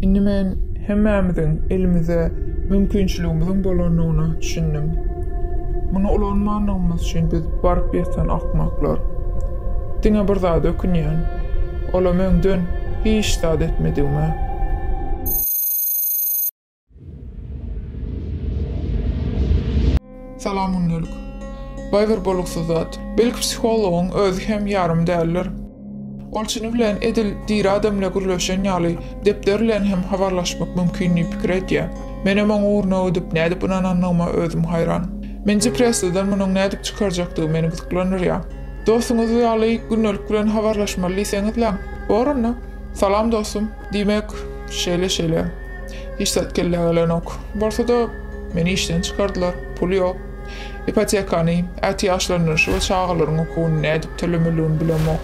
Indi men hemmämiziň elimize mümkinçiligimiziň bolandygyna düşündim. Muny ulanmandygymyz üçin biz baryp ýatan akmaklar. Diňe bir zada ökünýän, olam öňden hiç zat etmedigime. Salam gündelik. Baý bir boluksyz zat. Belki psihologyň özi hem ýarym däldir. Ol çyny bilen edil diri adam bilen gürleşen ýaly, depder bilen hem habarlaşmak mümkin diýip pikir edýär. Menem oň ugruna ödüp nädip ynanandygyma özüm haýran. Meni depressiýadan munuň nädip çykarjakdygy meni gyzyklandyrýar. Dostuňyz ýaly gündelik bilen habarlaşmaly diýseňizläň. Bor onda. Salam dostum. Diýmek, şeýle-şeýle. Hiç zat kellä gelenok. Bolsa-da, meni işden çykardylar. Pul ýok. Ipotekany, ätiýaçlandyryşy we çagalaryň okuwyny nädip tölemeligini bilemok.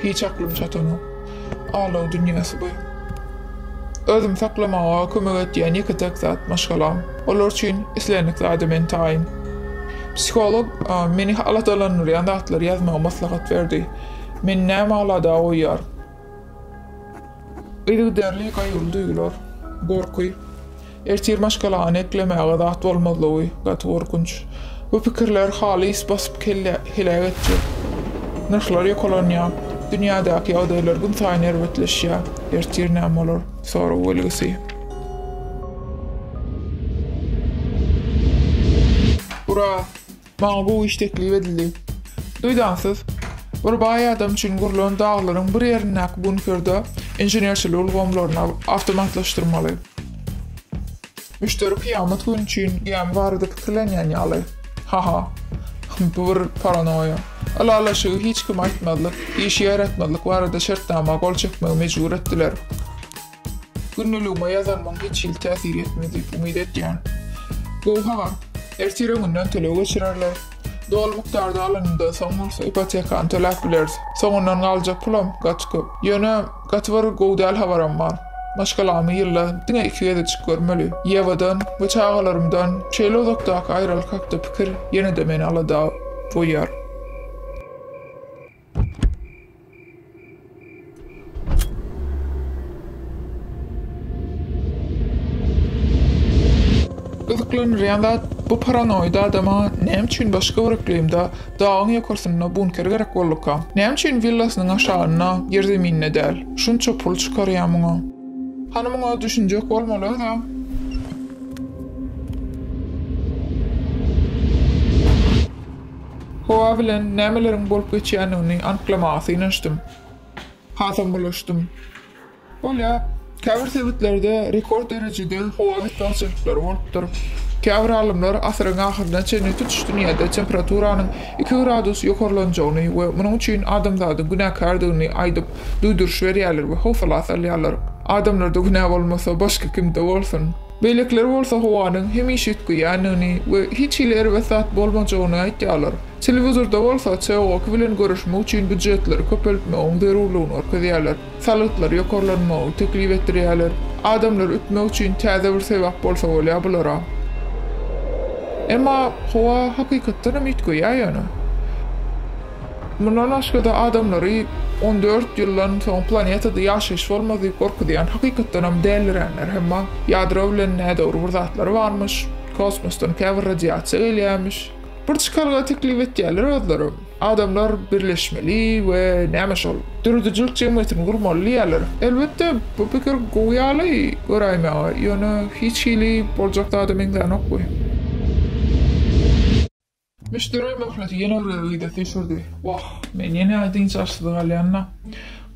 Hiç aklym çatanok. Alaw dünýäsi bu. Özümi saklamaga kömek etýän ýeke-täk zat, maşgalam. Olar üçin islendik zada men taýyn. Psiholog meni aladalandyrýan zatlary ýazmagy maslahat berdi. Meni näme alada goýýar? Yzygiderli gaýgyly duýgular, gorky, ertir maşgalany eklemäge zat bolmazlygy, gaty gorkunç. Bu pikirler halys basyp kelle heläk etjek. Nyrhlar ýokalanýar. Dünýädäki ýagdaýlar günsaýyn erbetleşýär. Ertir näme bolar? Sorag belgisi. Ura! Maňa gowy iş teklip edildi. Duýdansyz, bir baý adam üçin gurlan daglaryň bir ýerindäki bunkerde inženerçilik ulgamlaryny awtomatlaşdyrmaly. Müşderi kyýamat güni üçin gämi barada pikirlenýän ýaly. Ha-ha. Bu bir paranoýa. Ylalaşygy hiç kime aýtmazlyk, işi ýaýratmazlyk barada şertnama gol çekmegi mejbur etdiler. Gündeligime ýazanmyň hiç hili täsir etmez diýip umyt etýän. Gowy habar. Ertir öňünden töleg geçirerler. Doly mukdarda alanyndan soň bolsa ipotekany töläp bileris. Soňundan galjak pulam gaty köp. Ýöne, gaty bir gowy däl habaram bar. Maşgalamy ýylda diňe iki gezejik görmeli. Ýewadan we çagalarymdan şeýle uzakdaky aýralyk hakda pikir ýene-de meni alada goýýar. Gyzyklanyrýan zat, bu paranoid adama näme üçin başga bir yklymda, dagyň ýokarsynda bunker gerek bolduka? Näme üçin willasynyň aşagynda, ýerzeminde däl? Şunça pul çykarýa muňa. Hany muňa düşünjek bolmaly özem. Howa bilen nämeleriň bolup geçýändigini anyklamaga synanyşdym. Hasam bulaşdym. Bolýar, käbir sebitlerde rekord derejede howa betbagtçylyklary bolupdyr. Käbir alymlar asyryň ahyryna çenli tutuş dünýäde temperaturanyň iki gradus ýokarlanjagyny we munuň üçin adamzadyň günäkärdigini aýdyp, duýduryş berýärler we howsala salýarlar. Adamlarda günä bolmasa, başga kimde bolsun? Beýlekiler bolsa howanyň hemişe üýtgeýändigini we hiç hili erbet zat bolmajagyny aýtýarlar. Telewizorda bolsa CO-ki bilen göreşmek üçin býujetleri köpeltmegiň zerurlygyny görkezýärler, salgytlary ýokarlanmagy teklip etdirýärler. Adamlary ütmek üçin täze bir sebäp bolsa bolýar bulara. Emma howa hakykatdanam üýtgeýär ýöne. Mundan başga-da, adamlary on dört ýyldan soň planetada ýaşaýyş bolmaz diýip gorkuzýan, hakykatdanam däliränler hem bar. Ýadro bilen nädogry bir zatlar barmyş, kosmosdan käbir radiasiýa gelýärmiş. Bir çykalga teklip etýärler özleri, adamlar birleşmeli we näme şol, döredijilik jemgyýetini gurmaly diýýärler. Elbetde, bu pikir gowy ýaly göräýmäge, ýöne hiç hili boljak zada meňzänok bu. Müşderä möhleti ýene bir gezek idesi düşürdi. Wah, men ýene-ä dynç alşyz galýan-da.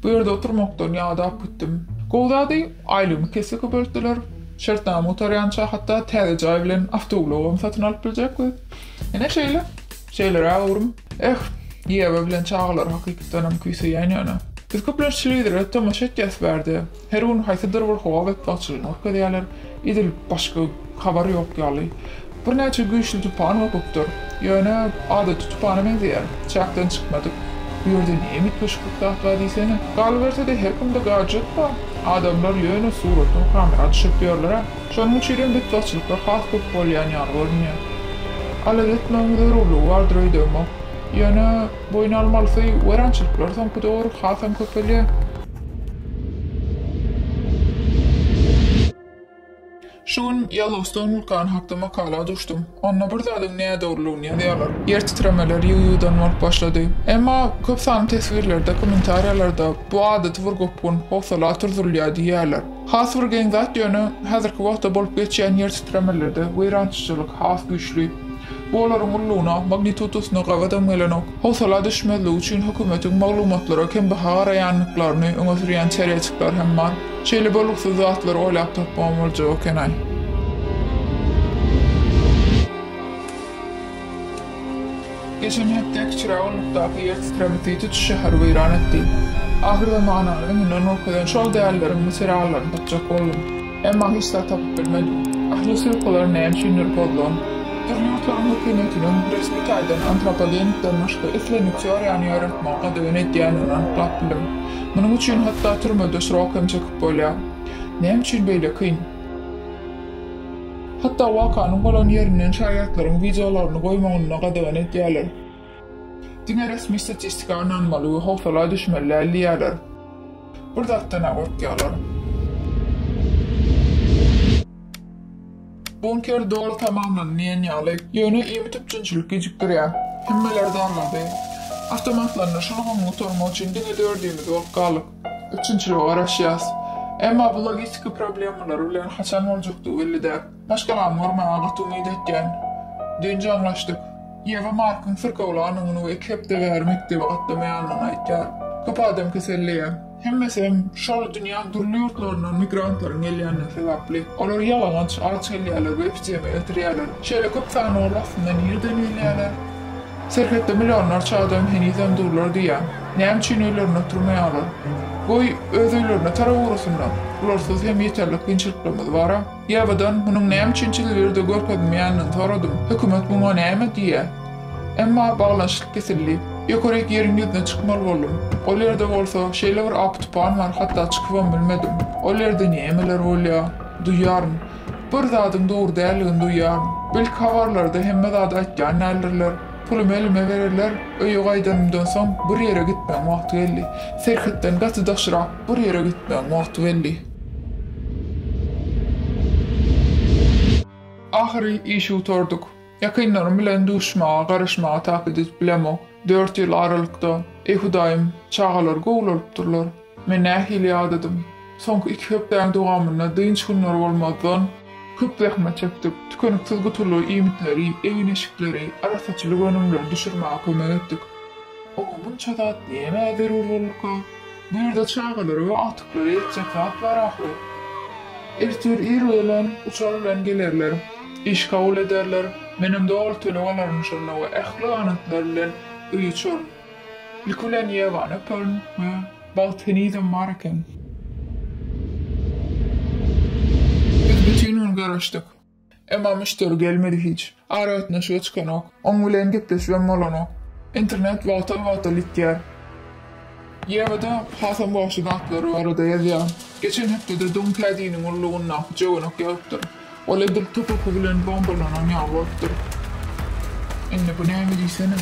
Bu ýerde oturmakdan ýadap gitdim. Gowy zady, aýlygymy kesgi köpeltdiler. Şertnama gutarýança, hatda täze jaý bilen awtoulagam satyn alyp biljekbis. Ine şeýle. Şeýleräk öwrüm. Eh, Ýewa bilen çagalar hakykatdanam küýseýän ýöne. Biz köplenç telewizora tomaşa etýäs bärde. Her gün haýsydyr bir howa betbagtçylygyny görkezýärler, edil başga habar ýok ýaly. Birnäçe güýçli tupan gopupdyr. Ýöne, adaty tupana meňzeýär. Çäkden çykmadyk. Bu ýerde ne üýtgeşiklik zat bar diýsene. Galyberse-de, her kimde gadjet bar. Adamlar ýöne suratdan kamera düşürtýärler-ä. Şonuň üçinem betbagtçylyklar has köp bolýan ýaly görünýär. Alada etmegiň zerurlygy bardyr öýdemok. Ýöne, boýun almalysy weýrançylyklar soňky döwür hasam köpelýär. Şu gün Ýellowstoun wulkany hakda makala duşdum. Onda bir zadyň nädogrulygyny ýazýarlar. Ýer titremeler ýygy-ýygydan bolup başlady. Emma köp sanly teswirlerde, kommentariýalarda bu adaty bir gopgun, howsala oturdylýar diýýärler. Has bir geň zat ýöne, häzirki wagtda bolup geçýän ýer titremelerde weýrançyjylyk has güýçli. Bu olaryň ullugyna, magnitudasyna gabadam gelenok. Howsala düşmezlik üçin hökümetiň maglumatlara kembaha garaýandyklaryny öňe sürýän çärejikler hem bar. Şeýle bolgusyz zatlary oýlap tapmagam boljak eken-aý. Geçen hepde Kiçi Rawlykdaky ýer titreme süýt uçuş şäheri weýran etdi. Ahyrzamanyň öňünden görkezen şol dälileriň materiallaryny tapjak boldum. Emma hiç zat tapyp bilmedim. Ahli sypkylary näme üçindir pozlan. Dürli ýurtlaryň hökümetiniň resmi taýdan antropogenikden başga islendik teoriýany ýaratmagy gadagan edýändigini anyklap bildim. Munuň üçin hatda türmede srok hem çekip bolýar. Näme üçin beýle kyn? Hatda wakanyň bolan ýerinden şaýatlaryň wideolaryny goýmagyny-da gadagan edýärler. Diňe resmi statistika ynanmaly we howsala düşmeli däl diýýärler. Bir zatdan-a gorkýarlar. Bunker doly tamamlandy diýen ýaly. Ýöne iýmit-üpjünçilik gijikdirýär. Hemmeler dargady. Awtomatlandyryş ulgamyny gutarmak üçin diňe dördümiz bolup galdyk. Üçünçiligi garaşýas. Emma bu logistika problemalary bilen haçan boljakdygy belli däl. Maşgalamy görmäge gaty umyt etýän. Dynç aňlaşdyk. Ýewa Markyň syrkawlanyny we iki hepde bäri mekdebe gatnamaýanyny aýtýar. Köp adam keselleýär. Hemmesi hem şol dünýäň dürli ýurtlaryndan migrantlaryň gelýändigi sebäpli. Olar ýalaňaç, aç gelýärler we epidemiýa getirýärler. Şeýle köp sanaw arasynda nireden gelýärler? Serhetde millionlarça adam henizem durlar diýýä. Näme üçin öýlerinde oturmaýarlar? Goý, öz öýlerine tarap ugrasynlar. Bularsyz hem ýeterlik kynçylyklarymyz bar-a. Ýabydan, munuň näme üçin tilwirde görkezilmeýändigini soradym. Hökümet muňa näme diýýä? Emma baglanyşyk kesildi. Ýokaryk ýeriň ýüzüne çykmaly boldum. Ol ýerde bolsa, şeýle bir apy-tupan bar, hatda çykybam bilmedim. Ol ýerde nämeler bolýar? Duýýaryn. Bir zadyň dogry däldigini duýýaryn. Belki habarlarda hemme zady aýtýan däldirler. Pulumy elime bererler. Öýe gaýdanymdan soň bir ýere gitmegiň wagty geldi. Serhetden gaty daşrak bir ýere gitmegiň wagty geldi. Ahyry işi gutardyk. Ýakynlarym bilen duşmaga, garaşmaga takyk edip bilemok. Dört ýyl aralykda. Eý, Hudaýym, çagalar gowy bolupdyrlar. Men nähili ýadadym. Soňky iki hepdäň dowamynda dynç günleri bolmazdan, köp zähmet çekdik, tükeniksiz gutuly iýmitleri, egin-eşikleri, arassaçylyk önümleri düşürmäge kömek etdik. Oňa munça zat nämä zerur bolurka? Bu ýerde çagalara we agtyklara ýetjek zat bar ahyry. Ertir ir bilen uçar bilen gelerler. Iş kabul ederler. Menem doly töleg alaryn şonda we ähli ganatlar bilen öýe uçaryn. Ilki bilen ýegany öperin we bagt henizem bar eken. Biz bütin gün garaşdyk. Emma müşderi gelmedi hiç. Aragatnaşyga çykanok. Oň bilen gepleşibem bolanok. Internet wagtal-wagtal ýitýär. Ýewada hasam goşy zatlar barada ýazýar. Geçen hepdede Dunkädiniň ullugyndaky jöwenek ýagypdyr. Ol edil top oky bilen bombalanan ýaly bolupdyr. Indi bu näme diýsene.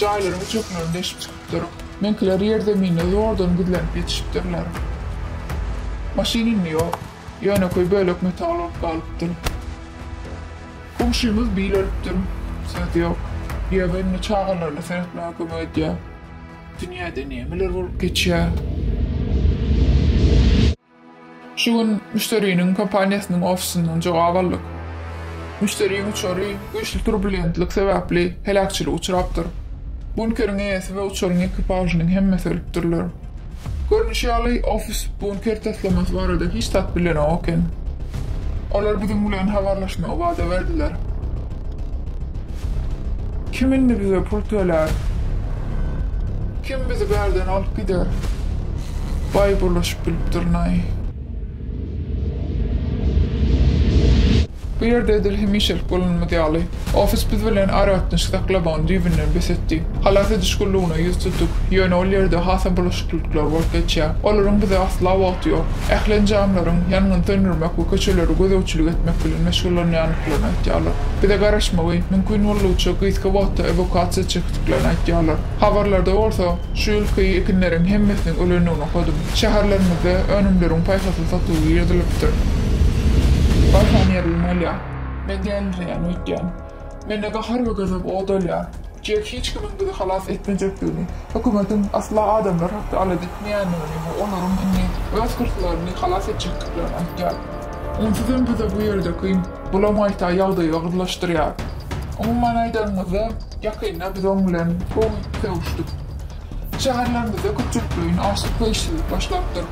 Jaýlaryň üçeklerini deşip çykypdyr. Meňkiler ýerzeminde zordan gizlenip ýetişipdirler. Maşyn indi ýok. Ýönekeý bölek metal bolup galypdyr. Goňşymyz bil ölüpdir. Söz ýok. Ýöne indi çagalaryna seretmäge kömek edýär. Dünýäde nämeler bolup geçýär. Şu gün müşderiniň kompaniýasynyň ofisindan jogap aldyk. Müşderiniň uçary güýçli turbulentlik sebäpli heläkçilige uçrapdyr. Bunkeriň eýesi we uçaryň ekipažynyň hemmesi ölüpdirler. Görnüşi ýaly, ofis bunker taslamasy barada hiç zat bilenok eken. Olar biziň bilen habarlaşmagy wada berdiler. Kim indi bize pul tölär? Kim bizi bärden alyp gider? Baý bulaşyp bilipdirnaý. Bu ýerde edil hemişelik bolanymyz ýaly, ofis biz bilen aragatnaşyk saklamagyny düýbünden bes etdi. Halas ediş gullugyna ýüz tutup, ýöne ol ýerde hasam bulaşyklylyklar bolup geçýär. Olaryň bize asla wagty ýok. Ähli enjamlaryň ýangyny söndürmek we köçelere gözegçilik etmek bilen meşgullanýan. çekdiklerini aýtýarlar. Bize garaşmagy mümkin boldugyça gysga wagtda ewakasiýa çekdiklerini aýtýarlar. Habarlarda bolsa, şu ýylky ekinleriň hemmesiniň ölendigini okadym. Şäherlerimizde önümleriň paýhasly satuwy ýyrdylypdyr. Barham ýerleme alýar. Men dälirýän öýtýän. Mende gahar we gazap ot alýar. Jek hiç kimiň bizi halas etmejekdigini, hökümetiň asla adamlar hakda alada etmeýändigini we olaryň indi öz hyrslaryny halas etjekdiklerini aýtýar. Onsuz hem bize bu ýerde kyn. Bulam gaýta ýagdaýy ogurlaşdyrýar. Umuman aýdanymyzda, ýakynda biz oň bilen gowy sögüşdik. Şäherlerimizde köpçülikleýin açlyk we işsizlik başlapdyr.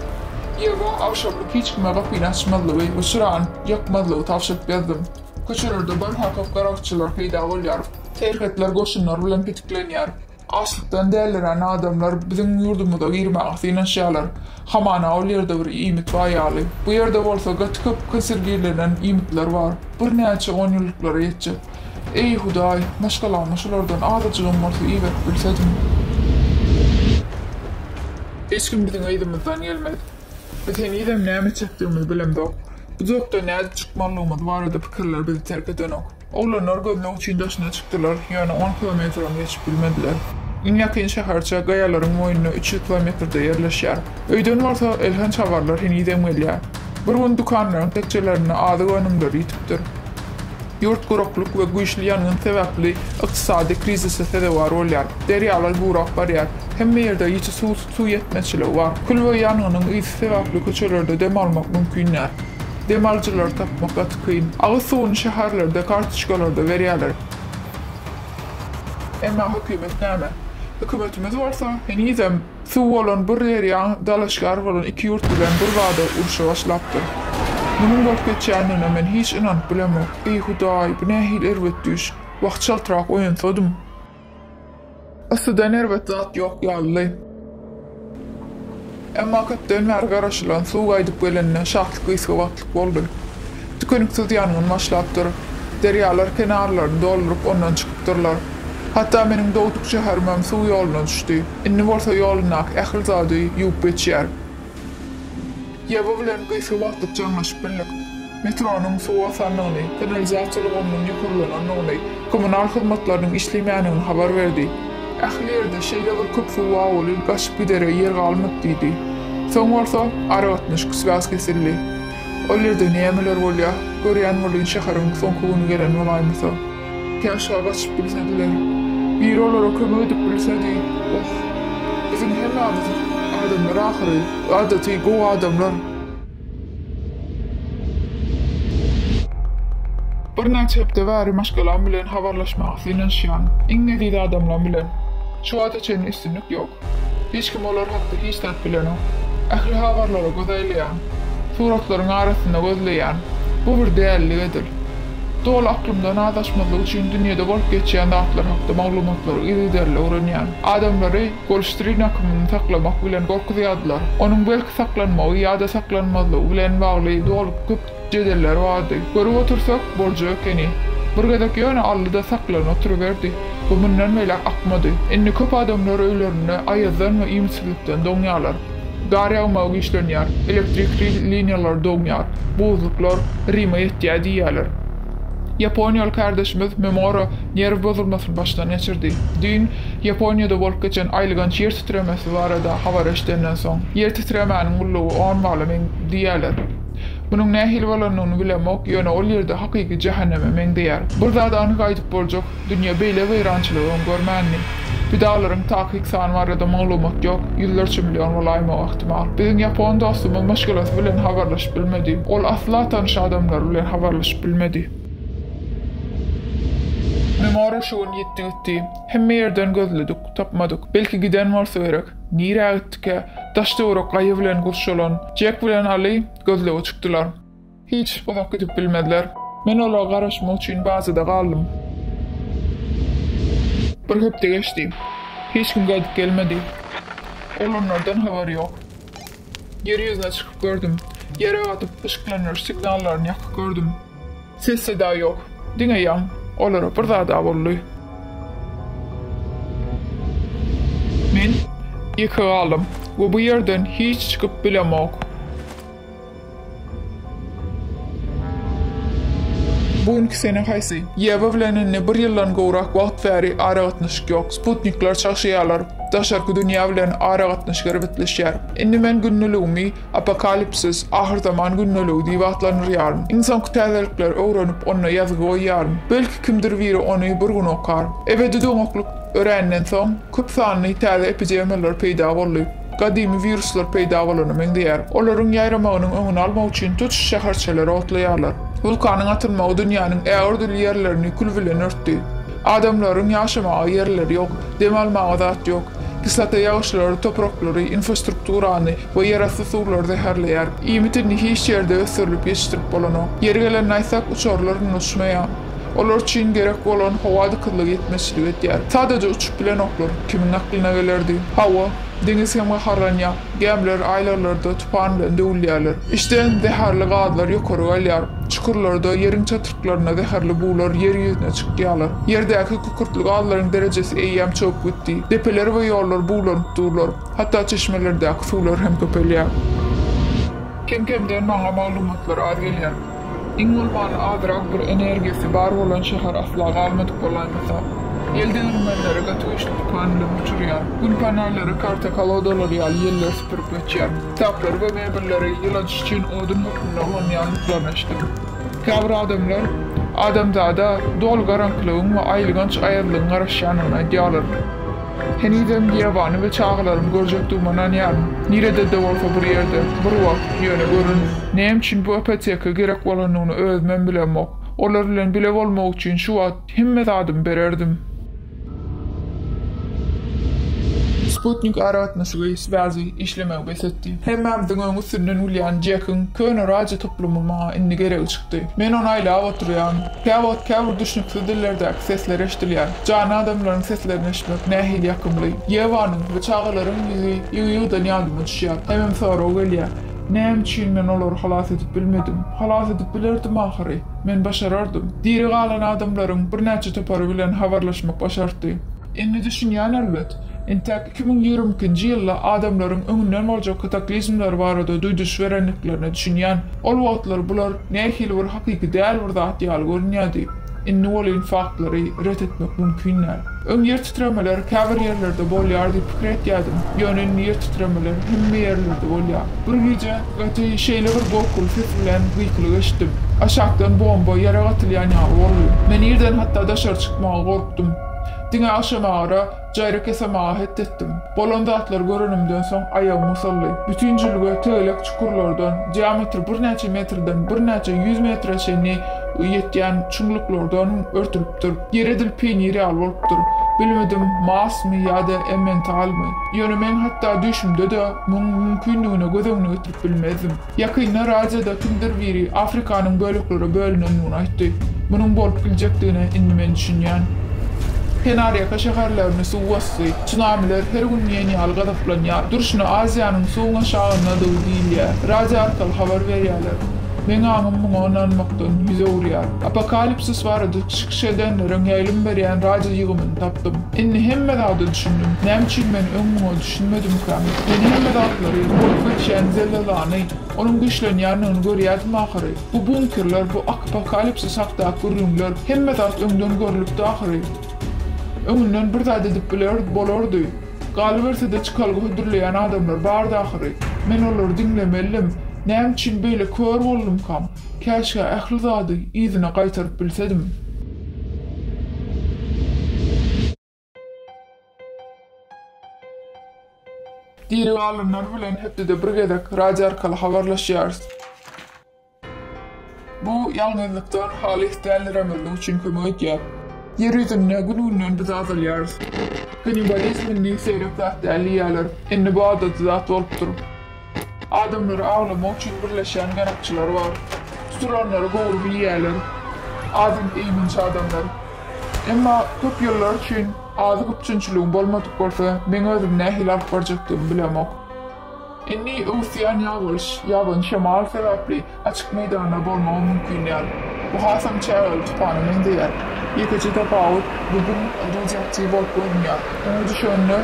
Ýewa agşamlyk hiç kime gapyny açmazlygy we çyrany ýakmazlygy tabşyryp gezdüm. Köçelerde barha köp garakçylar peýda bolýar. Serhetler goşunlar bilen petiklenýär. Açlykdan dälirän adamlar biziň ýurdumyza girmäge synanyşýarlar. Hamana ol ýerde bir iýmit bar ýaly. Bu ýerde bolsa gaty köp konserwirlenen iýmitler bar. Birnäçe onýyllyklara ýetjek. Eý, Hudaý, maşgalama şulardan azajygam bolsa iberip bilsediň. Hiç kim biziň yzymyzdan gelmez. Biz henizem näme çekdigimizi bilemzok. Bu zotdan nädip çykmalydygymyz barada pikirler bizi terk edenok. Oglanlar gözleg üçin daşyna çykdylar, ýöne on kilometram geçip bilmediler. Iň ýakyn şäherçe gaýalaryň boýunda üç ýüz kilometrde ýerleşýär. Öýden bolsa elhenç habarlar henizem gelýär. Bir gün dükanlaryň tekjelerinde azyk önümleri ýitipdir. Ýurt guraklyk we güýçli ýangyn sebäpli ykdysady krizise sezewar bolýar. Derýalar gurak barýar. Hemme ýerde ýiti suw. Suw ýetmezçiligi bar. Kül we ýangynyň ysy sebäpli köçelerde dem almak mümkin däl. Dem alyjylary tapmak gaty kyn. Agyz suwuny şäherlerde kartoçkalarda berýärler. Emma hökümet näme? Hökümetimiz bolsa henizem suw bolan bir derýaň dalaşgär bolan iki ýurt bilen bir bada urşa başlapdyr. Munuň bolup geçýändigine men hiç ynanyp bilemok. Eý, Hudaý, bu nähili erbet düýş. Wah, çaltrak oýansadym. Yssydan erbet zat ýok ýalydy. Emma köpden bäri garaşylan suw gaýdyp gelende şahly gysga wagtlyk boldy. Tükeniksiz ýangyn başlapdyr. Derýalar kenarlaryny dolduryp ondan çykypdyrlar. Hatda meniň dogduk şäherimem suw ýoluna düşdi. Indi bolsa ýolundaky ähli zady ýuwup geçýär. Ýaby bilen gysga wagtlyk jaňlaşyp bildik. Metronyň suw basandygyny, kanalizasiýa ulgamynyň ýokarlanandygyny, kommunal hyzmatlarynyň işleýmändigini habar berdi. Ähli ýerde şeýle bir köp suw awaly gaçyp gidere ýer galmady diýdi. Soň bolsa, aragatnaşyk üç-bäş kesildi. Ol ýerde nämeler bolýar? Görýän welin şäheriň soňky güni gelen bolaýmasa. Ýeke aşak açyp bilsediler. Biri olara kömek edip bilsedi. Oh, biziň hemmämiz adamlar ahyry, adaty gowy adamlar. Birnäçe hepde bäri maşgalam bilen habarlaşmaga synanyşýan, iň eziz adamlam bilen. Şu wagta çenli üstünlik ýok. Hiç kim olar hakda hiç zat bilenok. Ähli habarlara göz aýlaýan. Suratlaryň arasynda gözleýän. Bu bir dällik edil. Doly aklymdan azaşmazlyk üçin dünýede bolup geçýän zatlar hakda maglumatlary yzygiderli öwrenýän. Adamlary Golştrin akymyny saklamak bilen gorkuzýardylar. Onuň belki saklanmagy ýa-da saklanmazlygy bilen bagly doly köp. Jedelleri bardy. Görüp otursak, boljak ekeni. Bir gezek ýöne aldy-da saklanyp oturyberdi. Bu mundan beýläk akmady. Indi köp adamlar öýlerinde aýazdan we iýmitsizlikden doňýarlar. Gar ýagmagy güýçlenýär. Elektrik liniýalary doňýar. Buzluklar Rime ýetýär diýýärler. Ýaponiýaly kärdeşimiz Memora nerw bozulmasyny başdan geçirdi. Düýn Ýaponiýada bolup geçen aýylganç ýer titremesi barada habar eşidenden soň, ýer titremäniň gullugy on bala meňzeýär diýýärler. Munuň nähili bolandygyny bilemok, ýöne ol ýerde hakyky jähenneme meňzeýär. Bir zady anyk aýdyp boljak, dünýä beýle weýrançylygy öň görmändi. Pidalaryň takyk sany barada maglumat ýok, ýüzlerçe million bolaýmagy ähtimal. Biziň ýapon dostumyz maşgalasy bilen habarlaşyp bilmedi. Ol asla tanyş adamlary bilen habarlaşyp bilmedi. Memora şu gün ýitdi gitdi. Hemme ýerden gözledik, tapmadyk. Belki giden bolsa gerek. Nirä gitdikä? Daş-töwerek gaýa bilen gurşalan Jek bilen Aly gözlege çykdylar. Hiç uzak gidip bilmezler. Men olara garaşmak üçin bazada galdym. Bir hepde geçdi. Hiç kim gaýdyp gelmedi. Oglanlardan habar ýok. Ýer ýüzüne çykyp gördüm. Ýere gatyp, yşyklandyryş signallaryny ýakyp gördüm. Ses-seda ýok. Diňe ýaň. Olara bir zad-a boldy. Men ýeke galdym we bu ýerden hiç çykyp bilemok. Bu günki sene haýsy? Ýewa bilen indi bir ýyldan gowrak wagt bäri aragatnaşyk ýok. Sputnikler çagşaýarlar. Daşarky dünýä bilen aragatnaşyk erbetleşýär. Indi men gündeligimi. Apokalipsis, ahyrzaman gündeligi diýip atlandyrýaryn. Ynsanky täzelikleri öwrenip, onda ýazgy goýýaryn. Belki kimdir biri ony bir gün okar. Ebedi doňaklyk öränden soň, köp sanly täze epidemiýalar peýda boldy. Gadymy wiruslar peýda bolana meňzeýär. Olaryň ýaýramagynyň öňüni almak üçin tutuş şäherçeleri otlaýarlar. Wulkanyň atylmagy dünýäniň ägirdürli ýerlerini kül bilen örtdi. Adamlaryň ýaşamaga ýerleri ýok, dem almaga zat ýok. Kislota ýagyşlary topraklary, infrastrukturany, we ýerasty suwlary zäherleýär. Iýmit indi hiç ýerde ösdürilip ýetişdirip bolanok. Ýeri gelende aýtsak, uçarlar indi uçmaýar. Olar üçin gerek bolan howa dykyzlygy ýetmezçilik edýär. Sadaja uçup bilenoklar. Kimiň aklyna gelerdi? Hawa, deňiz hem gaharlanýar. Gämiler aýlaglarda tupan bilen döwülýärler. Içden zäherli gazlar ýokary galýar. Çukurlarda, ýeriň çatryklarynda zäherli bular ýer ýüzüne çykýarlar. Ýerdäki kükürtli gazlaryň derejesi eýýäm çopyp gitdi. Depeler we ýollar buglanyp durlar. Hatda çeşmelerdäki suwlar hem köpelýär. Kem-kemden maňa maglumatlar az gelýär. Iň bolmanda azrak bir energiýasy bar bolan şäher asla galmadyk bolaýmasa. Ýel degirmenleri gaty güýçli tupan bilen uçurýar. Gün panelleri karta-kolodalary ýaly ýelleri süpürip geçýär. Kitaplary we mebelleri ýyladyş üçin odun hökmünde ulanýandyklaryny eşitdim. Käbir adamlar adamzada doly garaňkylygyň we aýylganç aýazlygyň garaşýandygyny aýdýarlar. Henizem Ýewany we çagalarymy görjekdigime ynanýaryn. Nirede-de bolsa bir ýerde, bir wagt, ýöne görün, näme üçin bu ipoteka gerek bolanyny özümem bilemok. Olar bilen bile bolmak üçin şu wagt hemme zadymy bererdim. Sputnik aragatnaşygy, swazi, işlemegi bes etdi. Hemmämiziň öň üstünden gülýän Jekiň köne radio toplumy maňa indi geregi çykdy. Men ony aýlap oturýan. Käwagt käbir düşnüksiz dillerdäki sesler eşdilýär. Jany adamlaryň seslerini eşitmek nähili ýakymly. Ýewanyň we çagalaryň ýüzi ýygy-ýygydan ýadyma düşýär. Hemem sorag gelýär, Näme üçin men olary halas edip bilmedim? Halas edip bilerdim ahyry. Men başarardym. Diri galan adamlaryň birnäçe topary bilen habarlaşmak başartdy. Indi düşünýän elbet. Entäk Iki müň ýigrimi ikinji ýylda adamlaryň öňünden boljak kataklizmler barada duýduryş berendiklerine düşünýän. Ol wagtlar bular nähili bir hakyky däl bir zat ýaly görünýärdi. Indi welin faktlary ret etmek mümkin däl. Öň ýer titremeler käbir ýerlerde bolýar diýip pikir etýärdim. Ýöne indi ýer titremeler hemme ýerlerde bolýar. Bir gije gaty şeýle bir gorkuly ses bilen gykylyk eşitdim. Aşakdan bomba, ýarag atylýan ýaly boldy. Men irden hatda daşary çykmaga gorkdum. Diňe agşamagara Jaýryk ýasamaga het etdim. Bolan zatlary görenimden soň aýagym usaldy. Bütin jülge tegelek çukurlardan, diametri birnäçe metrden birnäçe ýüz metre çenli ýetýän çuňluklardan örtülipdir. Ýer edil peýnir ýaly bolupdyr. Bilmedim, Marsmy ýa-da Emmentalmy. Ýöne men hatda düýşümde-de muň mümkindigine göz öňüne getirip bilmezdim. Ýakynda radioda kimdir biri Afrikanyň böleklere bölünendigini aýtdy. Munuň bolup biljekdigine indi men düşünýän. Kenarýaka şäherlerini suw basdy. Tsunamiler her gün diýen ýaly gazaplanýar. Durşuna Aziýanyň suwuň aşagyndadygy diýilýär. Radio arkaly habar berýärler. Meň aňym muňa ynanmakdan ýüz öwürýär. Apokalipsis barada çykyş edenleriň ýaýlym berýän radio ýygymyny tapdym. Indi hemme zada düşündim. Näme üçin men öň muňa Düşünmedimkä? Men hemme zatlary, bolup geçýän zelzelany, onuň güýçlenýändigini görýärdim ahyry. Bu bunkerler, bu akpokalipsis hakdaky gürrüňler, hemme zat öňden görlüpdi ahyry. Öňünden bir zat edip bileris, bolardy. Galyberse-de çykalga hödürleýän adamlar bardy ahyry. Men olary diňlemelidim. Näme üçin beýle kör boldumka? Käşgä ähli zady yzyna gaýtaryp bilsedim. Diri galanlar bilen hepdede bir gezek radio arkaly habarlaşýarys. Bu ýalňyzlykdan halys däliremezlik üçin kömek edýär. Ýer ýüzünde gün-günden biz azalýarys. Kannibalizm indi seýrek zat däl diýýärler. Indi bu adaty zat bolupdyr. Adamlary awlamak üçin birleşýän garakçylar bar. Tutulanlary gowy bilýärler. Adyny eýmenç adamlar. Emma köp ýyllar üçin azyk üpjünçiligim bolmadyk bolsa, meň özümi nähili alyp barjakdygymy bilemok. Indi öwüsýän ýagyş, ýaban şemal sebäpli Açyk meýdanda bolmagy mümkin däl. Bu hasam çägeli tupana meňzeýär. Ýekeje tapawut, bu gün radiaktiw bolup görünýär. Oňa düşende,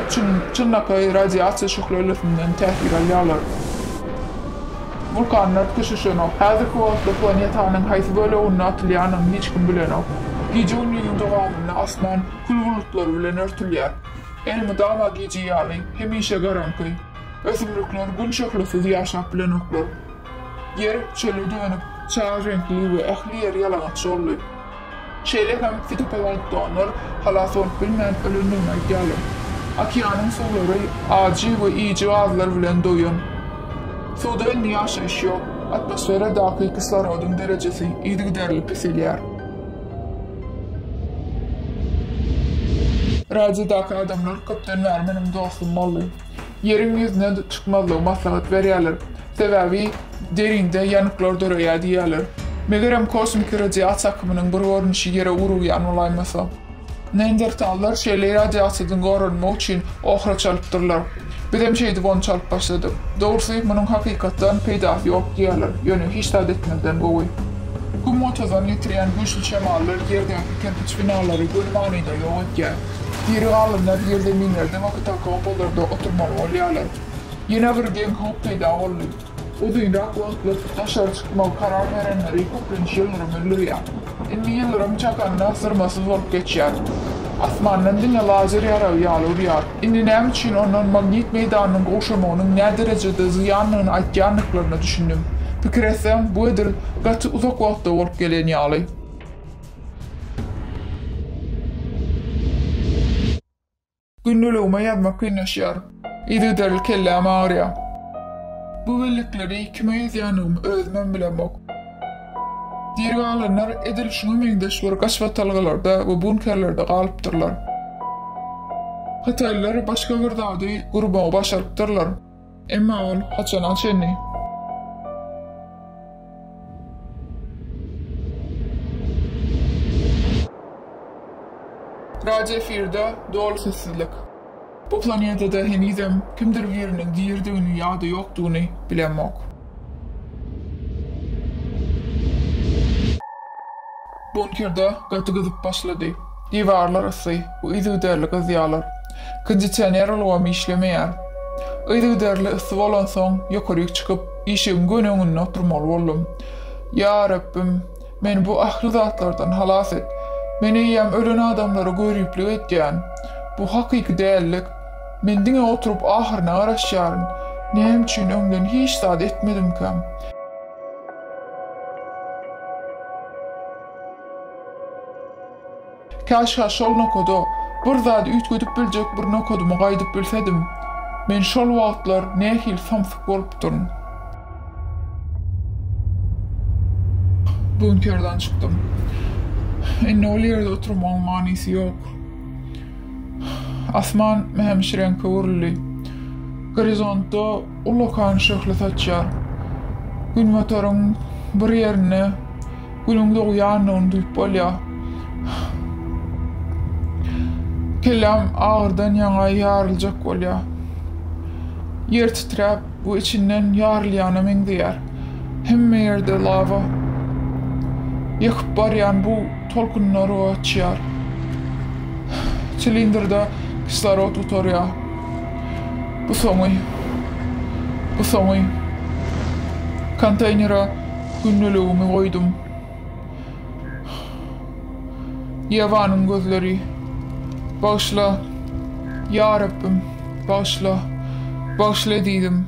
çynlakaý radiasiýa şöhlelisinden täsir alýarlar. Wulkanlar köşeşenok. Häzirki wagtda planetanyň haýsy böleginde atylýanyny hiç kim bilenok. Gije gündiziň dowamynda asman kül bulutlary bilen örtülýär. Elmydama gije ýaly, hemişe garaňky. Ösümlikler gün şöhlesiz ýaşap bilenoklar. Ýer çöle dönüp, çar reňkli we ähli ýer ýalaňaç boldy. Şeýle hem fitoplankttonlar halas bolup bilmän ölendigini aýdýarlar. Okeanyň suwlary ajy we iýiji gazlar bilen doýan. Suwda indi ýaşaýyş ýok. Atmosferadaky kislorodyň derejesi yzygiderli peselýär. Radiodaky adamlar köpden bäri meniň dostum boldy. Ýeriň ýüzüne çykmazlygy maslahat berýärler. Sebäbi derinde ýanyklar döreýär diýýärler. Megerem kosmiki radiasiýa akymynyň bir görnüşi ýere urugýan bolaýmasa. Neandertallar şeýle radiasiýadan goranmak üçin ohra çalypdyrlar. Bizem şeýdip ony çalyp başladyk. Dogrusy, munuň hakykatdan peýdasy ýok diýýärler, ýöne hiç zat etmezden gowy. Güm-gotadan getirýän güýçli şemallar ýerdäki kerpiç binalary göni manyda ýok edýär. Diri galynlar ýerzeminlerde we katakombalarda oturmaly bolýarlar. Ýene bir geň howp peýda boldy. Uzynrak wagtlyk daşary çykmagy karar berenleri köplenç ýyldyrym öldürýär. Indi ýyldyrym çakanda zyrmasyz bolup geçýär. Asmandan diňe lazer ýaragy ýaly urýar. Indi näme üçin ondan magnit meýdanynyň gowşamagynyň näderejede zyýanlygyny aýtýandyklaryna düşündim. Pikir etseň, bu edil gaty uzak wagtda bolup gelen ýaly. Gündeligime ýazmak kynlaşýar. Yzygiderli kelläm agyrýar. Bu bellikleri kime ýazýandygymy özümem bilemok. Diri galanlar edil şuňa meňzeş bir gaşbatalgalarda we bunkerlerde galypdyrlar. Hytaýlylar başga bir zady gurmagy başarypdyrlar. Emma ol haçana çenli? Radio efirde doly sessizlik. Bu planedada henizem kimdir biriniň diridigini ýa-da ýokdugyny bilemok. Bunker-de gaty gyzyp başlady. Diwarlar yssy, yzygiderli gyzýarlar. Kondisioner ulgamy işlemeýär. Yzygiderli yssy bolansoň, ýokaryk çykyp, işigiň gönüginde oturmaly boldum. Ýa Rabbim, meni bu ähli zatlardan halas et. Men eýýäm ölen adamlara göriplik edýän. Bu hakyky dälilik. Men diňe oturyp ahyryna garaşýaryn. Näme üçin öňden hiç zat etmedimkäm? Käşgä şol nokada, bir zady üýtgedip biljek bir nokadyma gaýdyp bilsedim. Men şol wagtlar nähili samsyk bolupdyryn. Bunkerden çykdym. Indi ol ýerde oturmagyň manysy ýok. Asman mämişreňk öwrüldi. Gorizontda. Ullakan şöhle saçýar. Günbataryň bir ýerinde Günüň dogýandygyny duýup bolýar. Kelläm agyrdan ýaňa ýaryljak bolýar. Ýer titräp we içinden ýarylýana meňzeýär. Hemme ýerde lawa. Ýakyp barýan bug tolkunlary gaçýar. Silindrda kislorod gutarýar. Bu soňy. Bu soňy. Konteýnere gündeligimi goýdum. Ýewanyň gözleri. Bagyşla, Ýa Rabbim, bagyşla. Bagyşla ezizim.